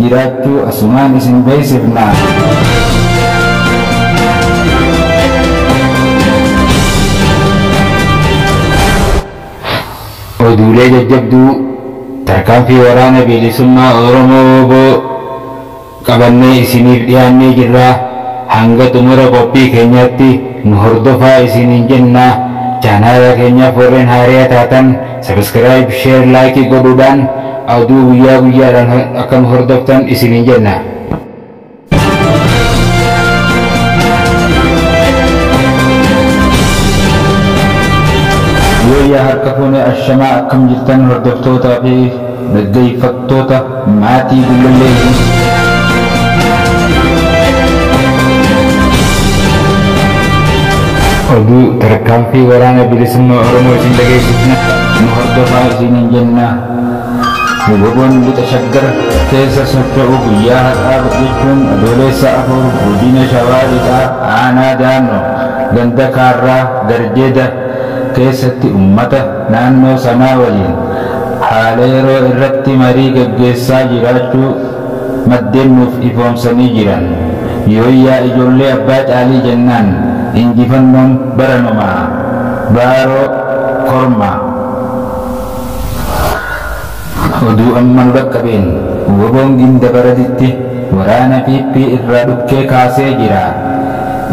jiraattuu asumaan isin beeksifna. Oduulee jajjabduu tarkaanfii waraana bilisummaa Oromoo wbo qabannee isiniif dhiyaannee jirra. Hanga xumura qophii keenyaatti nu hordofaa isiniin jenna. Chaanaala keenyaaf warreen haaraya taatan Subscribe, share, like godhuudhaan aduu guyyaa guyyaadhaan akka nu hordoftan isiniin jenna. Yooyyaa harka fuune ashamaa akkam jirtan hordoftootaa fi Dhaggeeffattoota Maatii Gullallee News. Oduu tarkaanfii waraana bilisummaa Oromoo isin dhageessisna nu hordofaa isiniin jenna. Wboon lixa shaggar keessa socho'u guyyaa har'aa jechuun adoolessa afur godina shawaa lixaa aanaa daannoo ganda kaarraa garjeeda keessatti ummata naannoo sanaa waliin haala yeroo irratti marii gaggeessaa jiraachuu maddeen nuuf ifoomsanii jiran. Yooyyaa ijoollee abbaa caalii jennaan injifannoon baranumaa! Baaroo Kormaa. Oduu amma nu dhaqqabeen wbon Gindabaratitti waraana PP irraa dhukkee kaasee jira.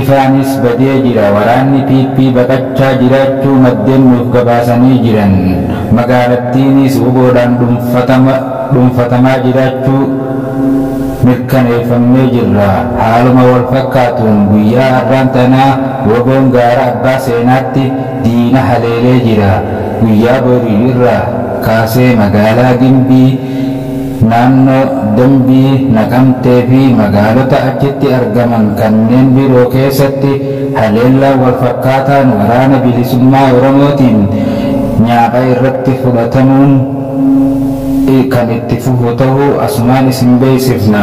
Ifaanis badee jira waraanni PP baqachaa jiraachuu maddeen nuuf gabaasanii jiran. Magaalattiinis wbo dhaan dhuunfatamaa jiraachuu mirkaneeffamnee jirra. Haaluma wal fakkaatuun guyyaa har'aan tanaa wbon gaara Abbaa Seenaatti diina haleelee jira. Guyyaa borii irraa. kaasee magaalaa Gimbii, naannoo Dambii, Naqamtee fi magaalota achitti argaman kanneen biroo keessatti haleellaan wal fakkaataan Waraana Bilisummaa Oromootiin nyaapha irratti fudhatamuun kan itti fufu tahuu asumaan isin beeksifna.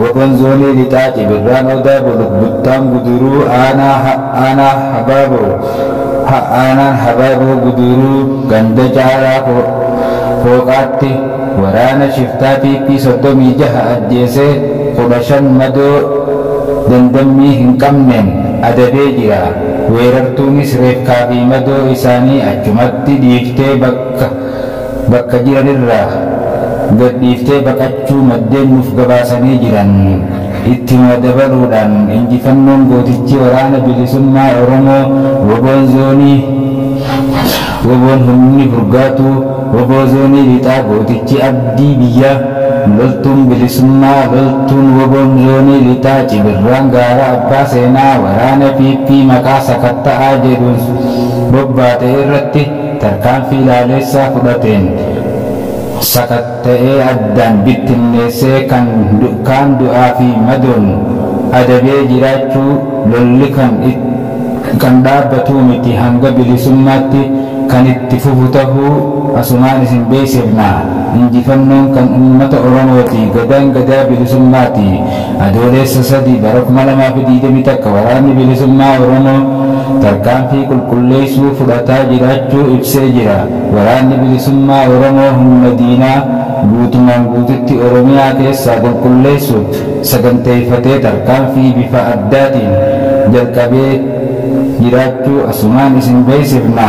Wbon Zoonii Lixaa Cibirraan Odaa Buluk Buttaan Guduruu Aanaa Aanaa Habaaboo Ha Aanaan Habaaboo Guduruu Ganda Caaraa Fooqaatti Waraana Shiftaa PP 36 Ajjeese 15 Madoo Dandammii Hin Qabneen Adabee Jira Weerartuunis Reefkaa fi Madoo Isaanii Achumatti Dhiiftee Bakka bakka jiran irraa gad dhiiftee baqachuu maddeen nuuf gabaasanii jiran ittima dabaluudhaan injifannoon gootichi Waraana Bilisummaa Oromoo wboon Zoonii wboon humni furgaatuu wbo Zoonii Lixaa gootichi Abdii Biyyaa loltuun bilisummaa loltuun wboon Zoonii Lixaa Cibirraan Gaara Abbaa Seenaa waraana PP maqaa sakatta'aa jedhuun bobbaate irratti tarkaanfii laaleessaa fudhateen sakatta'ee addaan bittinneessee kan kaan du'aa fi madoon adabee jiraachuu lolli kan dhaabbatuu miti hanga bilisummaatti kan itti fufu tahuu asumaan isin beeksifna. Injifannoon kan ummata Oromooti. Gadaan Gadaa Bilisummaati. Adooleessa 3 bara 2021 Waraanni Bilisummaa Oromoo tarkaanfii qulqulleessuu fudhataa jiraachuu ibsee jira. Waraanni Bilisummaa Oromoo humna diinaa guutumaan guututti Oromiyaa keessaa qulqulleessuuf saganteeffatee tarkaanfii bifa addaatiin jalqabee jiraachuu asumaan isin beeksifna.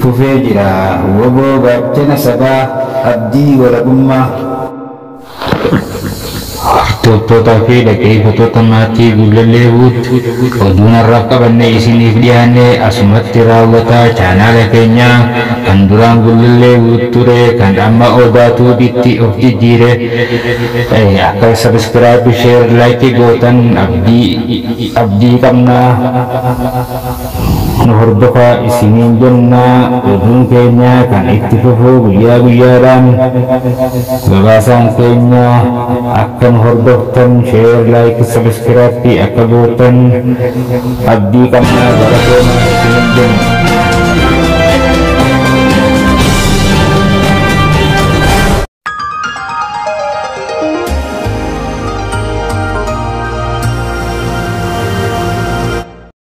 fufee jira. Wbo gaachana sabaa, abdii walabummaa. Hordoftootaa fi dhaggeeffattoota Maatii Gullallee Wood, oduun har'aaf qabannee isiniif dhiyaanne asumatti raawwata. Chaanaala keenya kan duraan Gullallee Wood ture, kan amma Odaa Tube tti of jijjiire akka subscribe, share, like gootan abdii qabna. Nu hordofaa isiniin jenna. Oduun keenya kan itti fufu guyyaa guyyaadhaan. Gabaasaan keenya akka nu hordoftan, share, like, subscrappi akka gootan abdii qabna. Galatoomaa isiniin jenna.